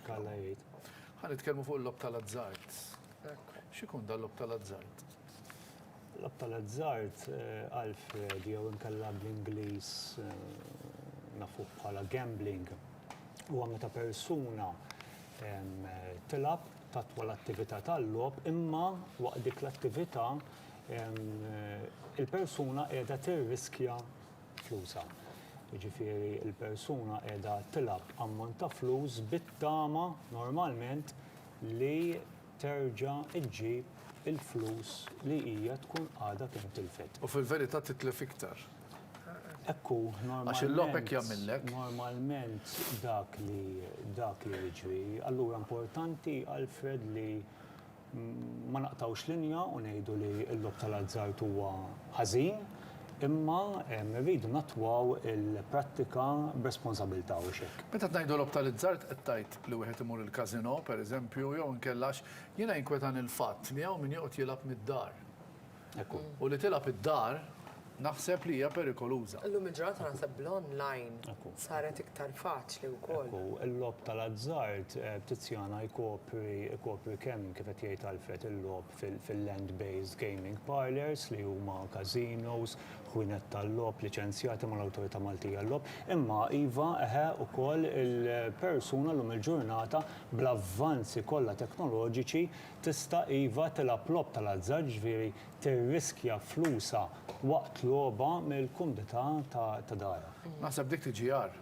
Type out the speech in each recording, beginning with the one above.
Kalla jgħid. Ħa nitkellmu fuq il-logħob tal-azzard. X'ikun dan l-logħob tal-azzard? L-logħob tal-azzard eh, Alfred jew inkella bl-Ingliż eh, nafu bħala gambling. Huwa meta persuna tilab tatwa l-attività tal-lob imma waqt dik l-attività il-persuna qiegħda tirriskja flusha. Jiġifieri l-persuna qiegħda tilgħab ammont ta' flus bit-tama normalment li terġa' ġġib il-flus li hija tkun għadha kemm tilfet. U fil-verità titlef iktar. Hekk hu, normalment, normalment dak li dak li jiġri. Allura importanti, Alfred, li Ma naqtgħux linja u ngħidu li l-logħob tal-azzard huwa ħażin, imma rridu nattwaw il-prattika b'responsabilità, hux hekk? Meta qed ngħidu logħob tal-izzard qed tgħid li wieħed imur il-casino, pereżempju, jew inkella għax jiena jinkwetani l-fatt li hawn min joqgħod jilgħab mid-dar. Ekku. U li tilgħab id-dar naħseb li hija perikoluża. Illum il-ġurnata naħseb bl-online saret iktar faċli wkoll. Ekku, il-logħob tal-azzard b'Tiziana jkopri kemm kif qed jgħid Alfred il-logħob fil-land-based gaming parlours li huma casinos, ħwienet tal-logħob liċenzjati mal-Awtorità Maltija għal-Logħob, imma iva, eħe, ukoll il-persuna llum il-ġurnata bl-avvanzi kollha teknoloġiċi tista' iva tilgħab logħob tal-azzard jiġifieri tirriskja flusha waqt logħba mill-kumdità ta' darha. Naħseb dik tiġi agħar.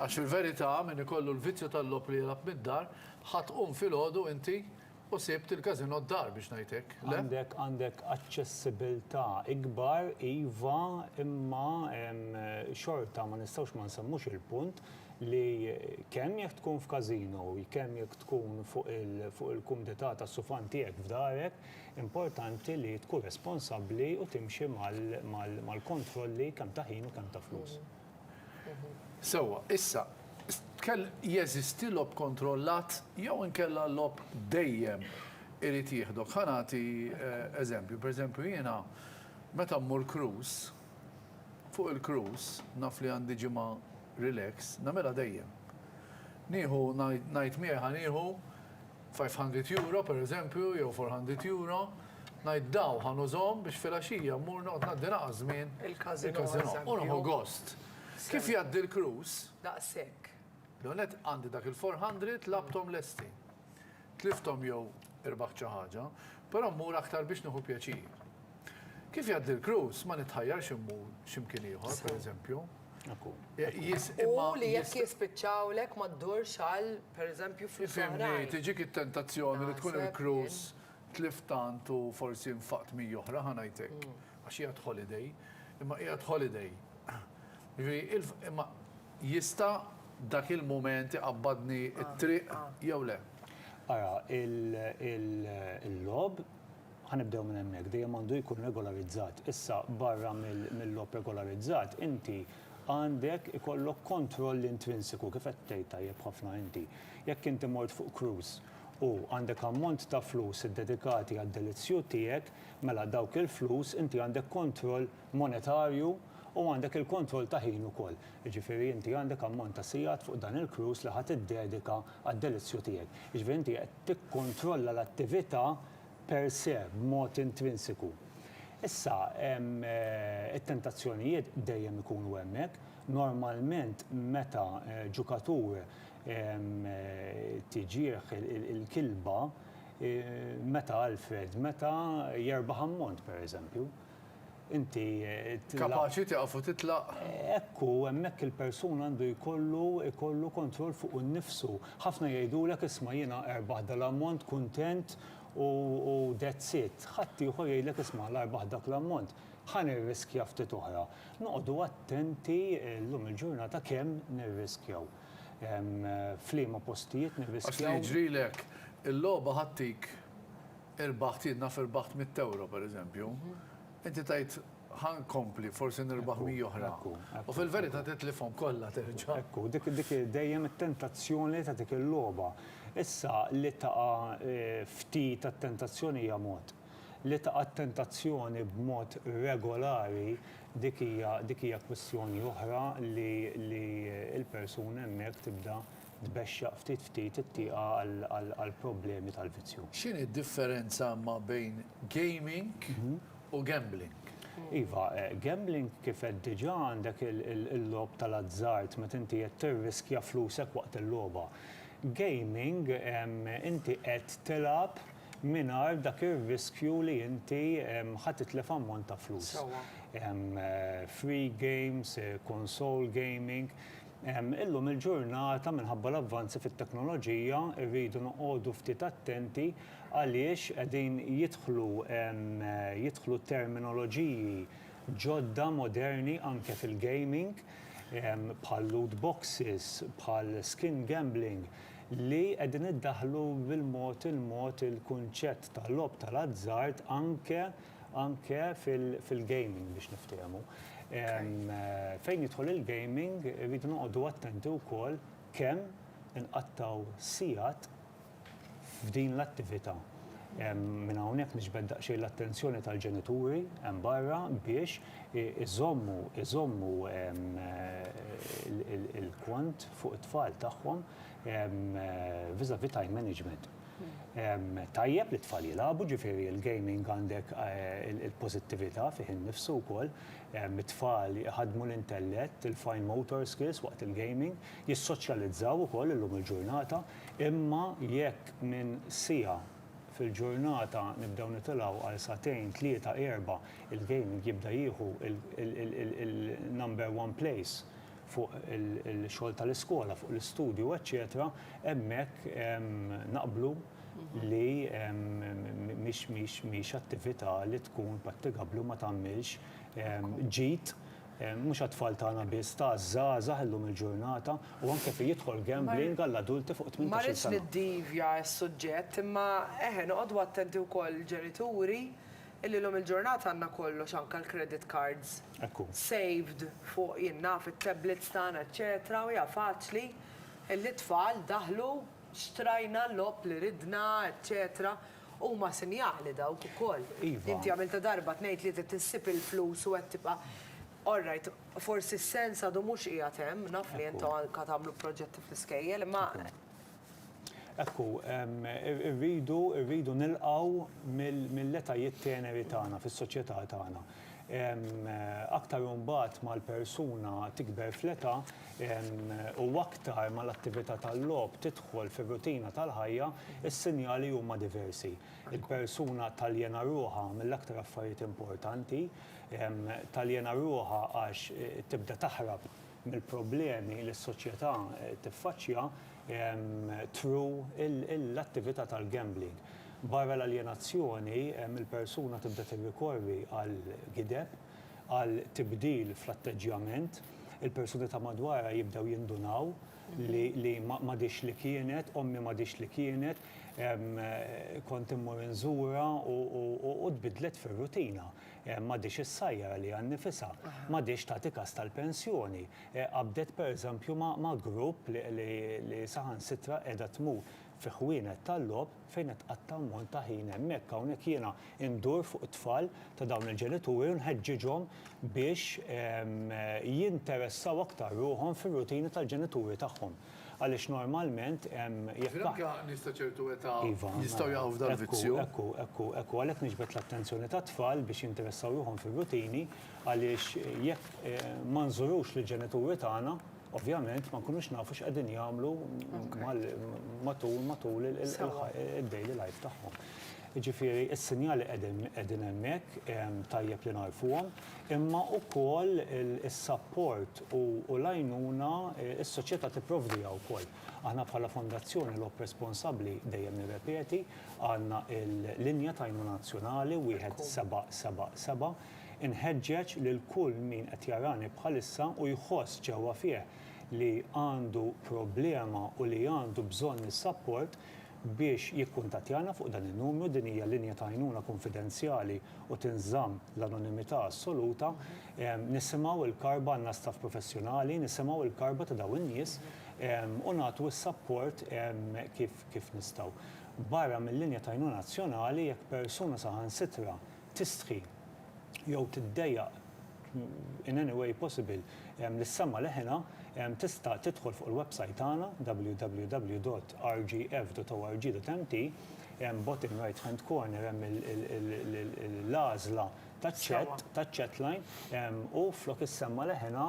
Għax fil-verità min ikollu l-vizzju tal-logħob li jilgħab mid-dar ħa tqum filgħodu inti u sibt il-casino d-dar biex ngħid hekk, le? Għandek għandek aċċessibilità ikbar iva imma xorta ma nistgħux ma nsemmux il-punt li kemm jekk tkun f'każino, kemm jekk tkun fuq il-kumdità tas-sufan tiegħek f'darek, importanti li tkun responsabbli u timxi mal-kontrolli kemm ta' ħin u kemm ta' flus. Sewwa, issa, jeżisti logħob kontrollat jew inkella logħob dejjem irid jieħdok? Ħa nagħti eżempju, pereżempju jiena meta mmur cruise, fuq il-cruise naf li għandi ġimgħa Relax, nagħmilha dejjem. Nieħu, ngħid miegħi ħa nieħu five hundred euro pereżempju jew four hundred euro, ngħid daw ħa nużhom biex filgħaxija mmur noqgħod ngħaddi naqas żmien il-każinò u nieħu gost. Kif jgħaddi l-cruise? Daqshekk. L-ewwel nett għandi dak il-four hundred labthom lesti. Tlifthom jew irbaħt xi ħaġa, però mmur aktar biex nieħu pjaċir. Kif jgħaddi l-cruise ma nitħajjarx immur x'imkien ieħor, pereżempju. U li jekk jispiċċawlek ma ddurx għal pereżempju flus oħrajn. Tiġik it-tentazzjoni li tkun il-cruise tlift tant u forsi nfaqt mi oħra ħanajtek. Mm. Għax qiegħed holiday, imma qiegħed holiday. Imma jista' dak il-mument iqabbadni t-triq jew le? Ara, il-logħob, ħa nibdew minn hemmhekk, dejjem għandu jkun regolarizzat. Issa barra mill-logħob regolarizzat, inti għandek ikollok kontroll intrinsiku kif qed tgħid tajjeb ħafna inti. Jekk inti mort fuq cruise u għandek ammont ta' flus iddedikati għad-delizzju tiegħek, Mela dawk il-flus inti għandek kontroll monetarju u għandek il-kontroll ta' ħin ukoll. Jiġifieri inti għandek ammont ta' sigħat fuq dan il-cruise li ħa tiddedika għad-delizzju tiegħek. Jiġifieri inti qed tikkontrolla l-attività per se, b'mod intrinsiku. Issa, it-tentazzjonijiet dejjem ikunu hemmhekk. Normalment meta ġukatur tiġih il-kilba, Meta, Alfred, meta jerbaħ ammont, per eżempju, inti. Kapaċi tieqaf u titlaq. Ekku, hemmhekk il-persuna għandu jkollu jkollu kontroll fuq innifsu. Ħafna jgħidulek isma' jiena erbaħt dal-ammont, kuntent u that's it. Ħadd ieħor jgħidlek isma' la rbaħt dak l-ammont, ħa nirriskja ftit oħra. Noqogħdu attenti llum il-ġurnata kemm nirriskjaw. f'liema postijiet nirriskjaw. Għax li jiġrilek, il-logħba ħattik irbaħt, jien naf irbaħt mitt ewro pereżempju, inti tgħid ħa nkompli forsi nirbaħ mija oħra. U fil-verità titlifhom kollha terġa'. Ekku, dik dejjem it-tentazzjoni ta' dik il-logħba. Issa li taqa' ftit għat-tentazzjoni hija mod. Li taqa' t-tentazzjoni b'mod regolari dik hija dik hija kwistjoni oħra li li l-persuna hemmhekk tibda tbexxaq ftit ftit it-tieqa għall-problemi tal-vizzju. X'inhi d-differenza ma' bejn gaming u gambling? Iva, gambling kif għedt diġà għandek il-logħob tal-azzard meta inti qed tirriskja flusek waqt il-logħba. Gaming inti qed tilgħab mingħajr dak ir-riskju li inti ħa titlef ammont ta' flus. Free games, console gaming. Illum il-ġurnata minħabba l-avvanzi fit-teknoloġija rridu noqogħdu ftit attenti għaliex qegħdin jidħlu jidħlu terminoloġiji ġodda moderni anke fil-gaming bħal loot boxes, bħal skin gambling. li qegħdin iddaħħlu bil-mod il-mod il-kunċett ta' logħob tal-azzard anke anke fil fil-gaming biex niftehmu. Fejn jidħol il-gaming irridu noqogħdu attenti wkoll kemm inqattgħu sigħat f'din l-attività. Minn hawnhekk niġbed daqsxejn l-attenzjoni tal-ġenituri hemm barra biex iżommu iżommu il-kont fuq it-tfal tagħhom vis-à-vis time management. Tajjeb li t-tfal jilagħbu, ġifieri l-gaming għandek il-pożittività fih innifsu wkoll, it-tfal iħaddmu l-intellett, il-fine motor skills waqt il-gaming, jissoċjalizzaw ukoll illum il-ġurnata, Imma jekk minn siegħa fil-ġurnata nibdew nitilgħu għal sagħtejn, tlieta, erbgħa, il-gaming jibda jieħu l-number one place fuq il-xogħol tal-iskola, fuq l-istudju, eċċetera, hemmhekk naqblu li mhix attività li tkun prattigabbli u ma tagħmilx ġid Mhux għat-tfal tagħna biss, ta' żgħażagħ illum il-ġurnata u anke fejn jidħol gambling għall-adulti fuq 18-il sena. Ma rridx niddivja s-suġġett imma eħe noqogħdu attenti wkoll ġenituri illi llum il-ġurnata għandna kollox anke l-credit cards saved fuq jien naf it-tablets tagħna eċċetera u hija faċli illi t-tfal daħlu xtrajna l-logħob li ridna eċċetera Huma sinjali dawk ukoll. Iva. Inti għamiltha darba, tnejn, tlieta, tissib il-flus u qed tibqa' All right, forsi s-sens għadu mhux qiegħed hemm, naf li intom anke tagħmlu proġetti fl-iskejjel, imma. Hekk hu, irridu nilqgħu mill-etajiet teneri tagħna fis-soċjetà tagħna. Aktar u mbagħad ma l-persuna tikber fl-età u aktar ma l-attività tal-logħob tidħol fir-rutina tal-ħajja, is-sinjali huma diversi. Il-persuna taljena ruħha mill-aktar affarijiet importanti. Taljena ruħha għax tibda taħrab. mill-problemi li s-soċjetà tiffaċċja through l-attività tal-gambling. Barra l-aljenazzjoni, il-persuna tibda tirrikorri għal gideb, għal tibdil fl-atteġġjament, il-persuni ta' madwarha jibdew jindunaw li m'għadhiex li kienet, ommi m'għadhiex li kienet, kont immur inżurha u tbiddlet fir-rutina. M'għadhiex issajjar għaliha nnifisha, m'għadhiex tagħti kas tal-pensjoni. Qabdet pereżempju ma' grupp li saħansitra qiegħda tmur fi ħwienet tal-logħob fejn qed tqatta' ammont ta' ħin hemmhekk. Hawnhekk jiena ndur fuq it-tfal ta' dawn il-ġenituri u nħeġġiġhom biex jinteressaw aktar ruħhom fir-rutini tal-ġenituri tagħhom. Għaliex normalment hemm, jekk aħna. Anke nies ta' ċertu età jistgħu jaqgħu f'dal-vizzju. Ekku, ekku, ekku, ekku. Għalhekk niġbed l-attenzjoni tat-tfal biex jinteressaw ruħhom fir-rutini għaliex jekk ma nżurux lill-ġenituri tagħna, ovvjament ma nkunux nafu x'qegħdin jagħmlu matul, matul id-daily life tagħhom. Jiġifieri s-sinjali qegħdin hemmhekk, tajjeb li nagħrfuhom, imma wkoll is-sapport u l-għajnuna s-soċjetà tipprovdiha wkoll. Aħna bħala Fondazzjoni Logħob Responsabbli, dejjem nirrepeti, għandna l-linja ta' għajnuna nazzjonali 1777. Inħeġġeġ lil kull min qed jarani bħalissa u jħoss ġewwa fih li għandu problema u li għandu bżonn is-sapport, biex jikkuntattjana fuq dan in-numru, din hija linja ta' għajnuna kunfidenzjali u tinżamm l-anonimità assoluta. Nisimgħu l-karba, għandna staff professjonali, nisimgħu l-karba ta' dawn in-nies u nagħtu s-sapport kif nistgħu. Barra mil-linja ta' għajnuna nazzjonali, jekk persuna saħansitra tistħi jew tiddejjaq in any way possible lis-sema leħinha tista' tidħol fuq il-website tagħna www.rgf.org.mt bottom right hand corner hemm il-għażla taċ-chat taċ-chat line u flok is-sema leħinha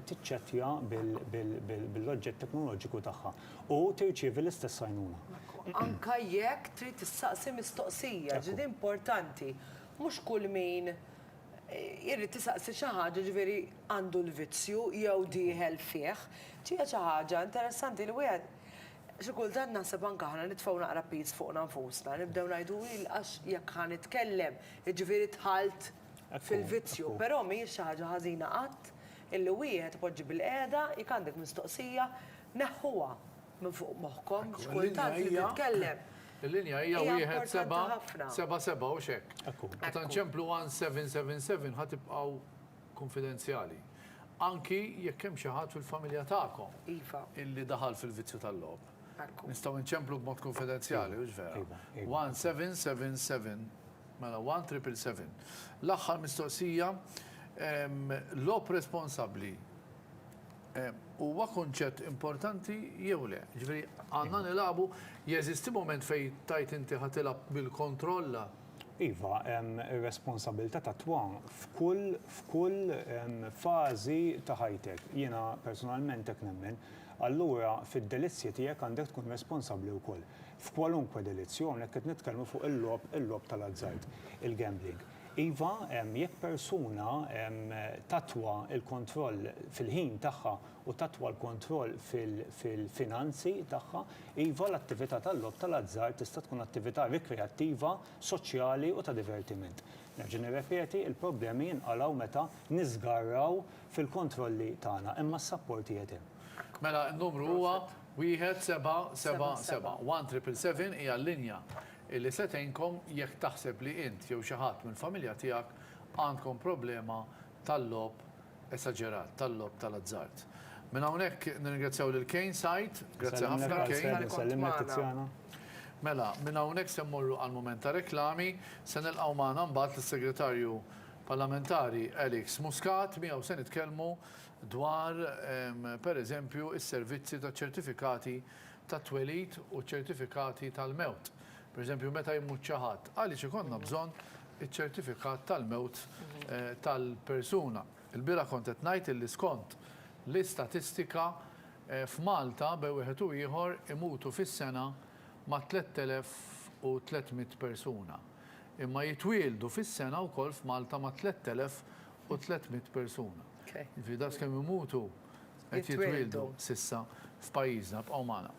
tiċċettja bil-oġġett teknoloġiku tagħha. u tirċievi l-istess għajnuna. Anke jekk trid issaqsi mistoqsija, ġifieri importanti, mhux kull min irid isaqsi xi ħaġa ġifieri għandu l-vizzju jew dieħel fih. Ġie xi ħaġa interessanti li wieħed xi kultant naħseb anke aħna nitfgħu naqra piż fuqna nfusna, nibdew ngħidu hi l-qax jekk ħa nitkellem, jiġifieri dħalt fil-vizzju. Però mhijiex xi ħaġa ħażina qatt illi wieħed ipoġġi bilqiegħda, jekk għandek mistoqsija, Neħħuha minn fuq moħħkom għax kultant li titkellem. Il-linja hija wieħed seba' seba' seba' u x'hekk. Meta nċemplu 1777 ħa tibqgħu kunfidenzjali. Anki jekk hemm xi ħadd fil-familja tagħkom iva. illi daħal fil-vizzju tal-logħob. Nistgħu nċemplu b'mod kunfidenzjali, hux vera? 1777 mela 1777. L-aħħar mistoqsija logħob responsabbli huwa kunċett importanti jew le. Ġifieri għandna iva. nilagħbu jeżisti moment fejn tajt inti ħa tilgħab bil-kontrolla. Iva, hemm responsabilità ta' twam f'kull f'kull fażi ta' ħajtek. Jiena personalment hekk nemmen. Allura fid-delizzji tiegħek għandek tkun responsabbli wkoll. F'kwalunkwe delizzju hawnhekk qed nitkellmu fuq il-lob il-lob tal-azzard, il-gambling. Iva, jekk persuna tattwa l-kontroll fil-ħin tagħha u tattwa l-kontroll fil-finanzi tagħha, iva, l-attività tal-logħob tal-azzard tista' tkun attività rikreattiva, soċjali u ta' divertiment. Nerġa' nirrepeti, il-problemi jinqalgħu meta niżgarraw fil-kontrolli tagħna, imma s-sapport qiegħed hemm. Mela n-numru huwa 1777. 1777 hija l-linja li se tgħinkom jekk taħseb li int jew xi ħadd mill-familja tiegħek għandkom problema tal-logħob esaġerat, tal-logħob tal-azzard. Minn hawnhekk nirringrazzjaw lil Kane Said, grazzi ħafna Kane. Mela, minn hawnhekk se mmorru għall-mument ta' reklami, se nilqgħu magħna mbagħad lis-Segretarju Parlamentari Alex Muscat, miegħu se nitkellmu dwar pereżempju s-servizzi taċ-ċertifikati tat-twelid u ċ-ċertifikati tal-mewt, pereżempju meta jmut xi ħadd, għaliex ikollna bżonn iċ-ċertifikat tal-mewt tal-persuna? Ilbieraħ kont qed ngħid illi skont l-istatistika f'Malta bej wieħed u ieħor imutu fis-sena mat-3,300 persuna. Imma jitwieldu fis-sena wkoll f'Malta mat-3,300 persuna. Jiġifieri daqs kemm imutu Qed jitwieldu s'issa f'pajjiżna. Bqgħu magħna.